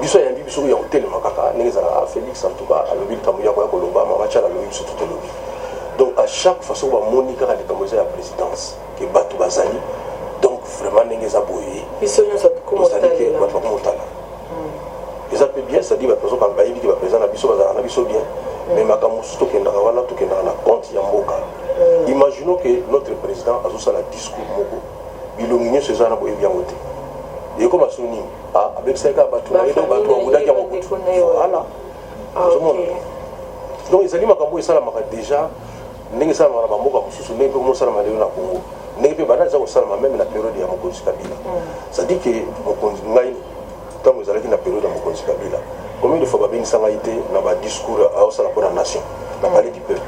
biso ayambi biso ya kotelema kaka ndenge ezalaka félix en tout cas alobi likambo yako ya koloba mama chala alobi biso totolobi donc à chaque fois soki bamoni kaka likambo eza ya présidence ke bato bazali donc vraiment ndenge eza boye ozali te bato bakomotala hmm. eza mpe bien cetadire bato bazokanga bayebi te bapeza na biso bazalaka na biso bien hmm. mais makambo mosusu tokendaka wana tokendaka na compte ya mboka hmm. imaginons ke notre président azosala discours moko bilongi nyonso eza na boyebi yango te ekoma so nini Ah, abebisaki kaka bato na ye donc bato babundaki yango kutu voilà ah, ozomona donc ezali makambo oyo esalamaka déjà ndenge esalamaka na bamboka mosusu ndenge mpe mosalama lelo na congo ndenge mpe banda eza kosalama meme na periode ya mokonzi kabila mm. cestadi ke mokonzi ngai ntango ezalaki na periode ya mokonzi kabila combien de fois babengisa ngai te na badiscours aosala mpo na nation na mm. palais du peuple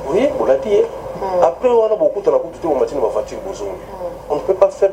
oui bolati ye mm. après wana bokutana kutu te bomati na bavoiture bozongi on ne peut pas faire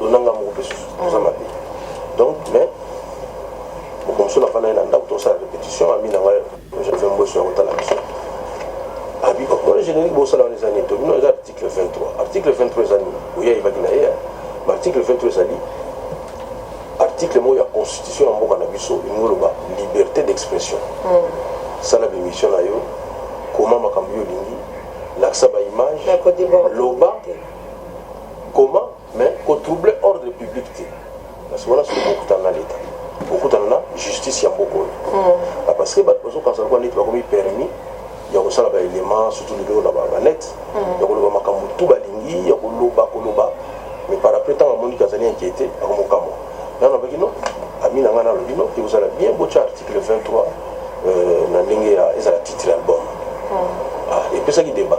lonanga moko mpe susu eza mabe donc mais mokomso nafanda ye na ndako tosala répétition ami na ngai joseph mboso ya kotala biso abi omona générique bosala wana eza nini to bino eza article 23 article 23 eza nini oya yebaki na ye ma article 23 ezali article moko ya constitution ya mboka na biso elingi oloba liberté d'expression hmm. sala bimission na yo koma makambo yo olingi lakisa baimage loba comment mais ko troubler ordre public te parce que wana soki bokutana na leta bokutana na justice ya mboka oyo mm. ah, parce que bato bazokanisa lokola neti bakomi permis ya kosala baélément surtout lelo na babanete mm. ya koloba makambo tu balingi ya koloba koloba mais par après ntango amoni kazali inquiété akomokamwa nano abaki no ami na ngai nalobi no ekozala bien botya article 23 euh, na ndenge ezala titre album mm. ah, epesaki débat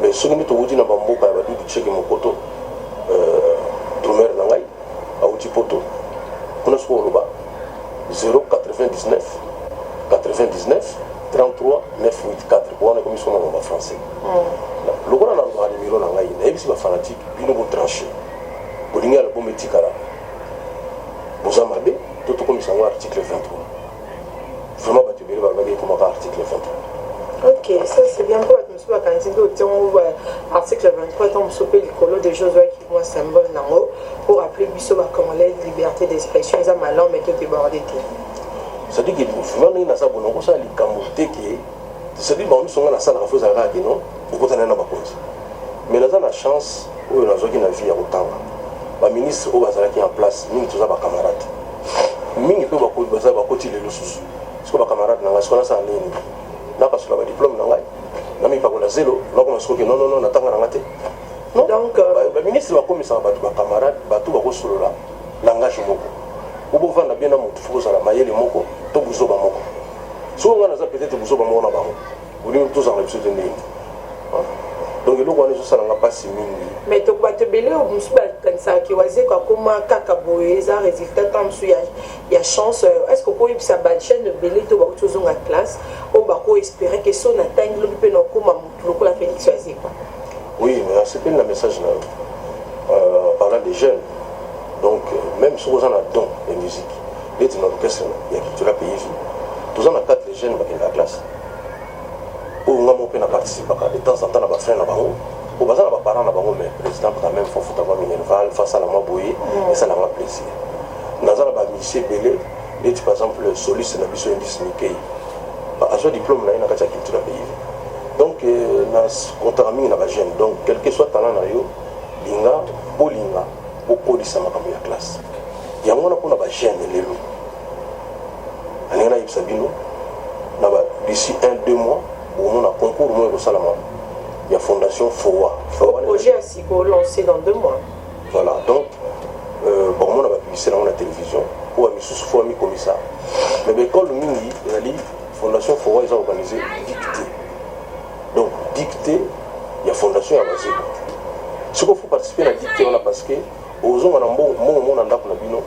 Mais soki mbi towuti na ba mboka ya ba dudu tsheke mokoto euh, drumeur na ngai awuti poto kuna soko oloba 099 99 33 984 wana ekomi soko na loba français mm. lokola na loba nimero na ngai nayebisi ba fanatique bino bo tranche bolingi album etikala boza mabe to tokomisa yango article 23 vraiment bato ebele balobaki ekomaka article 23 ok ça c'est bien mpo bato mosusu bakanisi mpe otiango ba article 23 ntango mosusu mpe likolo de jeux ozwaki mwa symbole nango mpo rappeler biso bacongolais liberté d'expression eza malamu meke odeborde te c'est-à-dire que vraiment ndenge naza bona okosala likambo te ke c'est-à-dire bango miso nga nasalaka fo ezalaka kaka kino okotana na bakonzi mais naza na chance oyo nazwaki na vie ya kotanga baministre oyo bazalaki en place mingi toza bacamarade mingi mpe bakoti baza bakoti lelo susu siko bacamarade na ngai siko nasala ndenge nini napasula badiplome na ngai namipakola zelo nakoma sikoke nonono na ntanga na ngai te donc euh, baministre bakomisaka bato bacamarade bato bakosolola langage moko obovanda bien na motu fo kozala mayele moko to buzoba moko soko ngai naza peut-être buzoba moko na bango olingi tozala biso te ndenge donc eloko wana ezosala nga mpasi mingi mais to bato ebele mosusu bakanisaka ke wazeko akoma kaka boye eza résultat ntango mosusu ya chance euh, est ce que okoyebisa bajeune ebele to bakuti ozonga classe oyo bakoespere ke so natangi lobi mpe nakoma motu lokola félix wazekwa oui mais asepeli na message na yo euh, parlant des jeunes donc euh, même soki oza na don ya musique neti na orchestre ya cultura pays toza na 4 les jeunes bakendaka classe oyo nga moko mpe na participaka de temps en temps na ba fin na bango oyo baza na ba parents na bango mais président quand même faut futa mwa minerval faut asala mwa boye mm. esala nga plaisir naza na ba misie ebele neti par exemple soliste na biso indice mikei azwa diplôme na ye na kati ya culture ya pays donc euh, na kontaka mingi na ba jeune donc quelque soit talent na yo linga bolinga bokolisa makambo ya classe yango wana mpona ba jeune lelo Nalingi nayebisa bino na ba d'ici un deux mois bokomona concours moko ekosalama ya fondation fowa projet ya sika olance dans deux mois voilà donc euh, bakomona bapiblisite nango na télévision oyo ya misusu fo amikomisa mais baekole mingi ezali fondation fowa eza organise dicte donc dicte ya fondation ya bazeko sikoyo fo participe na dicte wana parce que Ozonga na mbongo mbongo mona ndako na bino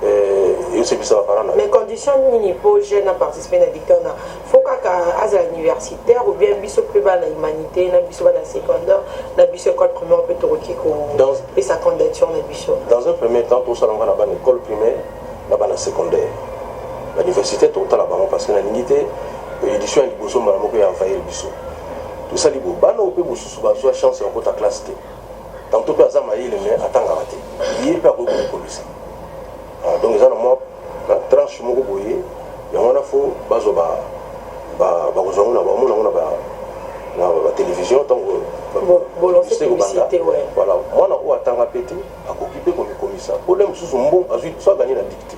eh, esepisa ba parents na. Mais condition nini po jeune na participer na dicton na faut kaka azala universitaire ou bien biso pe bana humanité na biso bana secondaire na biso école primaire pe tokoki ko pesa candidature na biso. Dans un premier temps tosala nga na bana école primaire na bana secondaire ba université tokotala bango parce que nalingi te euh, édition ya liboso mbala moko ya envahir biso tosali bo bana oyo mpe mosusu bazwa chance ya kokota classe te Tantôt mpe aza mayele mais atangaka te. Ye mpe akoki komikomisa. Ah, donc eza na mwa na tranche moko boye yango wana fo bazwa ba bakozwa yango na bamona yango na ba na ba télévision ntango biste kobanda voilà mwana oyo atanga mpe te akoki mpe komikomisa pole mosusu mbongo azwi so aganye na dikte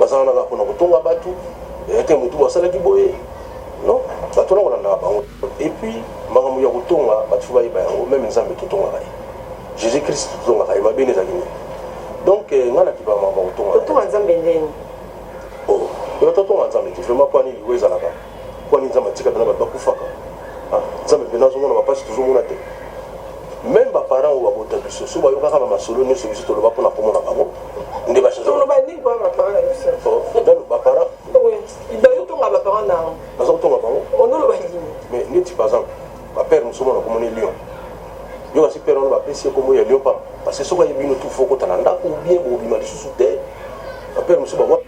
baza wana kaka pona kotonga batu eyate eh, motu basalaki boye non bato wana kolandaka bango epuis makambo ya kotonga bato fo bayeba yango meme nzambe totongaka ye jésus christ totongaka ye mabe nde ezalaki nini donc eh, ngai nakipaka makambo ya kotonga nzambe ndeni oyo oh, totonga nzambe te vraimen pwani liwa ezalaka Kwani nzambe atika bela bato bakufaka ah, nzambe mpe nazo mona bapasi tozomona te meme baparent oyo babota biso so bayokaka bamasolo nyonso biso toloba mpona komona bango nde baza kotonga bango mais neti par exemple bapere mosusu mona komona lion yo kasi pere wana bapesi ye kombo ya lion papa parce que soki ayebino tu fo kotala ndako bien bobima lisusu te bapere mosusu bawa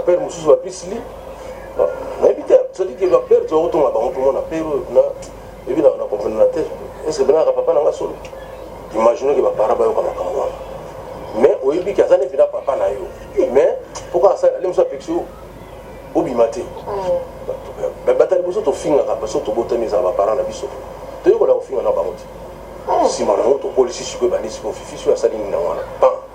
Père mosusu ba bisli. Nayebi te, c'est-à-dire que ba père tozo tonga bango tout le monde na père na ebi na na comprendre na tête. Est-ce que bana ka papa na nga solo? Imaginez que ba parents ba yoka makambo wana. Mais oyebi que azali pina papa na yo. Mais pourquoi ça les musa pexio? Obima te. Ba batali boso to finga ka baso to botami za ba parents na biso. Toyekola kofinga na bango te. nsima na yango tokolisi sikoyo ebandi sikoyo fifi soki asali nini na wana pan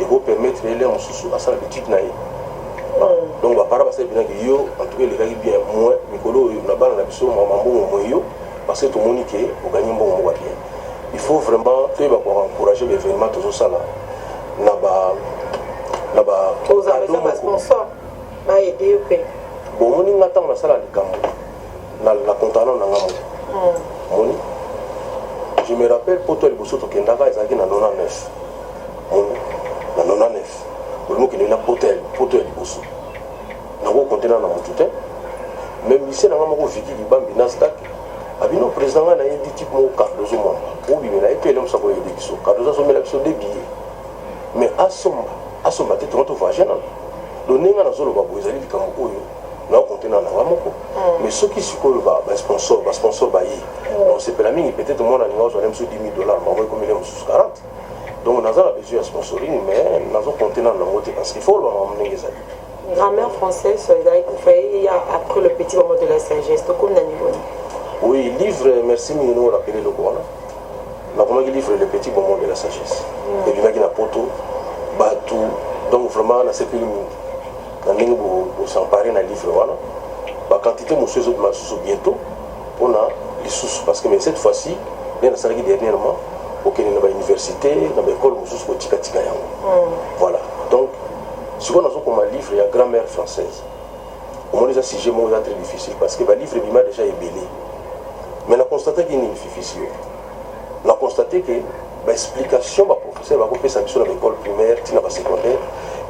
eko permettre ye lere mosusu asala b'etude na ye donc bapara basali mpena ke yo en tout cas elekaki bien moins mikolo oyo na bana na biso mama mbongo moye yo parce que tomoni ke oganye mbongo moko bien il faut vraiment toyeba ko encourager baévénement tozosala na ba na ba bomoni nga ntango nasala likambo na, na contrat na nga moko mm. moni je me rappelle poto ya liboso tokendaka ezalaki na 99 moni na 99 olingi okende na poto ya poto ya liboso nango kontena na motu te mais misie na nga moko viki libambi na stak abino président ngai nayebi type moko cardozo mama obimela ye to elemusa koyede biso cardozo asomela biso de billet mais asomba asomba te tongo tovage nano do ndenge nazoloba boye ezali likambo oyo na compte na nanga moko mais soki sikoyo ba ba sponsor ba sponsor ba yi donc c'est la mingi peut-être moi na ninga zone msu 10000 dollars ma moi comme les msu 40 donc naza na besoin ya sponsoring mais nazo compte na nango te parce qu'il faut ba mamu ndenge ezali grammaire française sur les aïe il y a après le petit moment de la sagesse donc comme na niveau oui livre merci mingi no rappeler le quoi na komaki livre le petit moment de la sagesse mm. et bimaki na poto batou donc vraiment na sepeli mingi na ndenge bo bo s'emparer na livre wana ba quantité mosusu ezobima lisusu bientôt mpona lisusu parce que mais cette fois ci nde nasalaki dernièrement kokende na bauniversité na baekole mosusu kotikatika yango mm. voilà donc sikoyo nazokoma livre ya grand mère française omoni eza sujet moko eza très difficile parce que balivre ebima déjà ebele mais na constataki nini fifisi yo Na constater que ba explications ba professeurs bako pesa biso na ba ecoles primaires ti na ba secondaires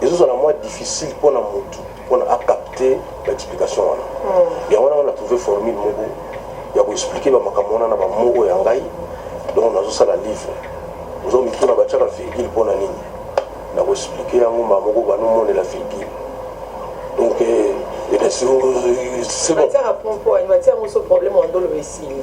ezo zala mwa difficile mpo na mutu mpo na a capter ba explications wana. Hmm. Yango wana nga na trouver formule moko ya ko expliquer ba makambo wana na ba mots oyo ya ngai donc nazo sala livre. Ozo mituna ba tiaka virgule mpo na nini? Na ko expliquer yango mbala moko bano monela virgule. Donc eh, eh, c'est bon. Matière à point mpo, matière moso problème wa ndolo esili.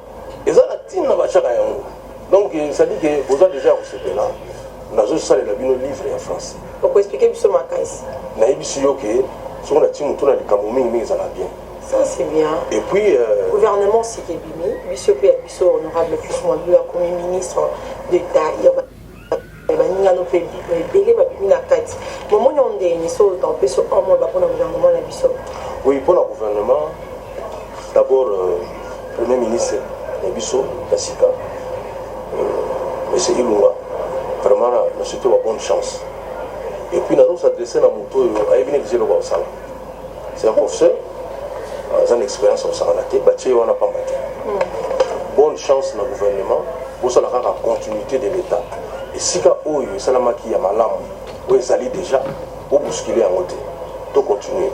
Eza na tina ba tiaka yango. Donc ça dit que boza dejà ko sepela nazo salela bino livre ya français. Oko expliquer biso makasi. Na yebisi yo que soki na timu tuna likambo mingi mingi ezala bien. Ça c'est bien. Et puis euh... gouvernement Sikebimi, biso pe biso honorable plus moi, lui a commis ministre d'État. ya baninga no mpe ebele babimi na kati momoni yango ndenge nini so otan mpe so un mois bako na gouvernement na biso oui mpo na gouvernement d'abord euh, premier ministre na biso ya sika euh, monsieur ilunga vraiment na surtout ba bonne chance et puis nazos adresse na moto oyo ayebi neti eloko akosala C'est un professeur, aza na expérience kosakana te batie ye wana pamba te bonne chance na gouvernement bosala kaka continuité de l'état esika oyo esalamaki ya malamu oyo ezali déjà bobuskile yango te to continuer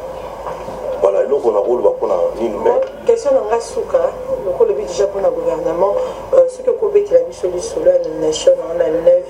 voilà eloko na koloba mpona nini me question na ngai suka lokola obi déjà mpona gouvernement euh, soki okobetela biso lisolo ya nomination na 9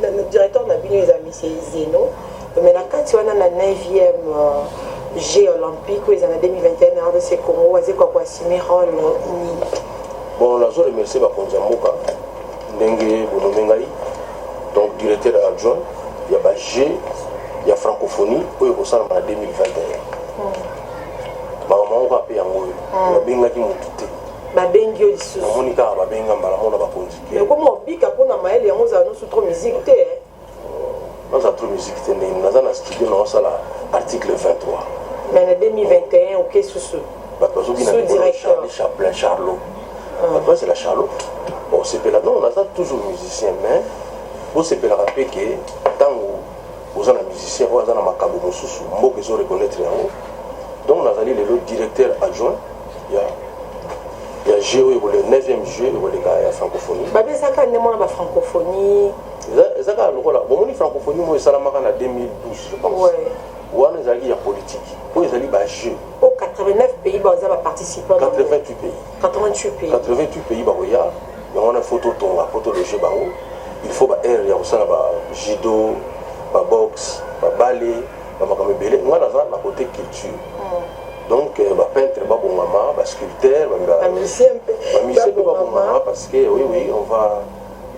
Na directeur na bino eza monsieur Izeno, mais na kati wana na 9e euh, Jeux olympiques oyo eza na 2021 na RDC Congo aze kwa ko assumer rôle nini? Bon, nazo remercier bakonzi ya mboka ndenge bonome ngai donc directeur adjoint ya ba Jeux ya francophonie oyo ekosalama na 2021 makambo yango kaka mpe yango oyo nabengaki motu te babengi yo lisusu namoni kaka babenga mbala mona bakonzi Mais comment obika pona mael yango ozala nosu trop musique te hein? naza trop musique te ndenge naza na studio na osala article 23 mais na 2021 oke susu bato bazobina charli chaplin charlot bato bazela charlot osepela non naza toujours musicien mais bosepelaka mpe ke ntango oza na musicien oyo aza na makambo mosusu mboka ezo reconnaître yango donc nazali lelo directeur adjoint ya ya jeu oyo ekole 9e jeu ekoleka ya francophonie babi eza kaka nde mwana ba francophonie eza kaka lokola bomoni francophonie moko esalamaka na 2012 je pense ouais. wana ezalaki ya politique oyo ezali ba jeu o 89 pays baza ba participant 88 pays 88 pays 88 pays bakoya yango wana faut totonga po tologe bango il faut ba aire ya kosala ba judo ba boxe ba bale ba makambo ebele ngai naza na kote culture mm. donc euh, ba peintre ba bongama ba sculpteur ba musicien pe ba musicien pe ba bongama parce que oui oui on va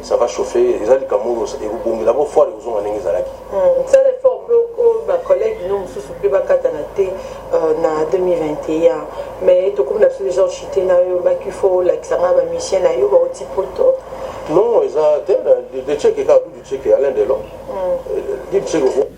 ça va chauffer eza likambo et vous bongi là-bas fort et vous ont amené zalaki hmm, ça les fort peu au ba collègue nous mususu pe ba kata na te euh, na 2021 mais to comme l'absolu genre chité na yo ba qu'il faut la kisanga ba musicien na yo ba oti poto non eza te de check et ka du check alain delon hmm. euh, du check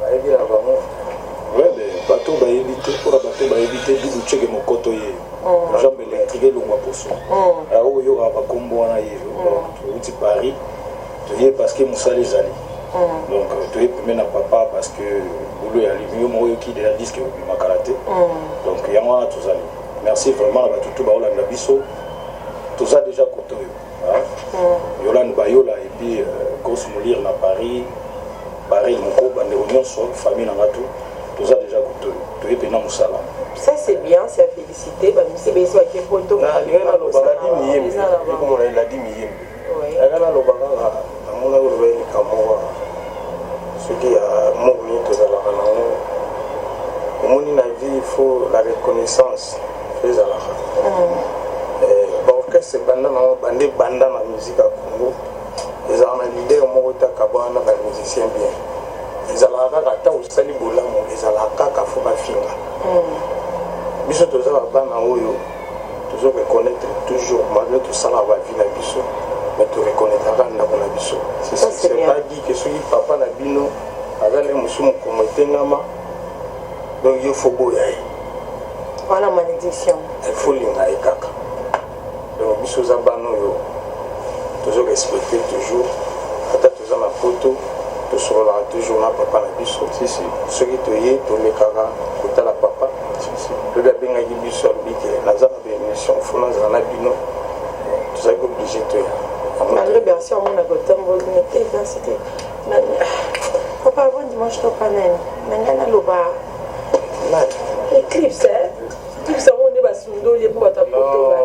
Bayebi na bango ouais mais bato bayebi te mpona bato bayebi te bibu ceke mokoto ye mm. jambe électrique elongwa poso mm. yango koyokaka bakombo wana ye mm. outi paris toye parce que mosala ezali donc toye peme na papa parce que bolo ya limi yo moko oyoki deja diske obimakala te donc yango wana tozali merci vraiment na bato tu baolanda biso toza déjà koto oyo Yolande Bayola et puis euh, Grosse Molir na Paris, Baril Mukoba, ndeko nyonso, famille na nga tout, toza déjà toye pena musala. Ça c'est bien, c'est à féliciter, ba misi besi ba kepoto. Na lingana lobaka di miyembe, ekomona eladi miyembe. Lingana lobaka nga. Namonaki vree likambo wana soki ya amour nini tozalaka na yango omoni na vie il faut la reconnaissance ezalaka baorchestre ebanda na banda ebanda na musique ya congo ezalaka na leader moko te akabwana na bamusicien bien ezalaka kaka ata osali bolamu ezalaka kaka fo bafinga biso toza babana oyo Tozo reconnaitre toujours malgre tosala ba vie na biso mais to reconnaitraka ndako na biso. C'est pas dit que soki papa na bino aza na mosusu mokomo etengama donc yo faut boya ye. Voilà malédiction. Il faut linga ye kaka. Donc biso za bana oyo tozo respecter toujours Toza na poto tosololaka toujours na papa na biso soki toye tolekaka kotala papa lobi abengaki biso alobi ke naza na baémission fo nazala na bino tozali kooblige toya malgré bersi amona kotamboli na te bersi te papa avant dimanche toka nani na ngai naloba éclipse éclipse yango nde basundoli ye mpo bato ya poto baye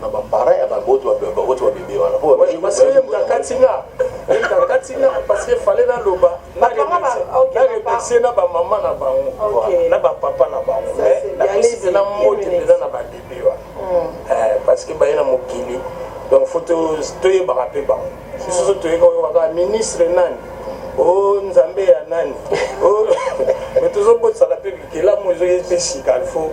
na ba parents ya bango to ba bango to ba bebe wana po ba parce que yemba katinga yemba katinga parce que fallait na loba na remercier na ba maman na bango na ba papa na bango mais na kisi na mbote pena na ba bebe wana hmm. eh, parce que baye na mokili donc faut toyebaka mpe bango bisoso toyeka oyokaka ministre nani o oh, nzambe ya nani oh, mais tozobotisa na mpe bikelamu ezoki mpe sika il faut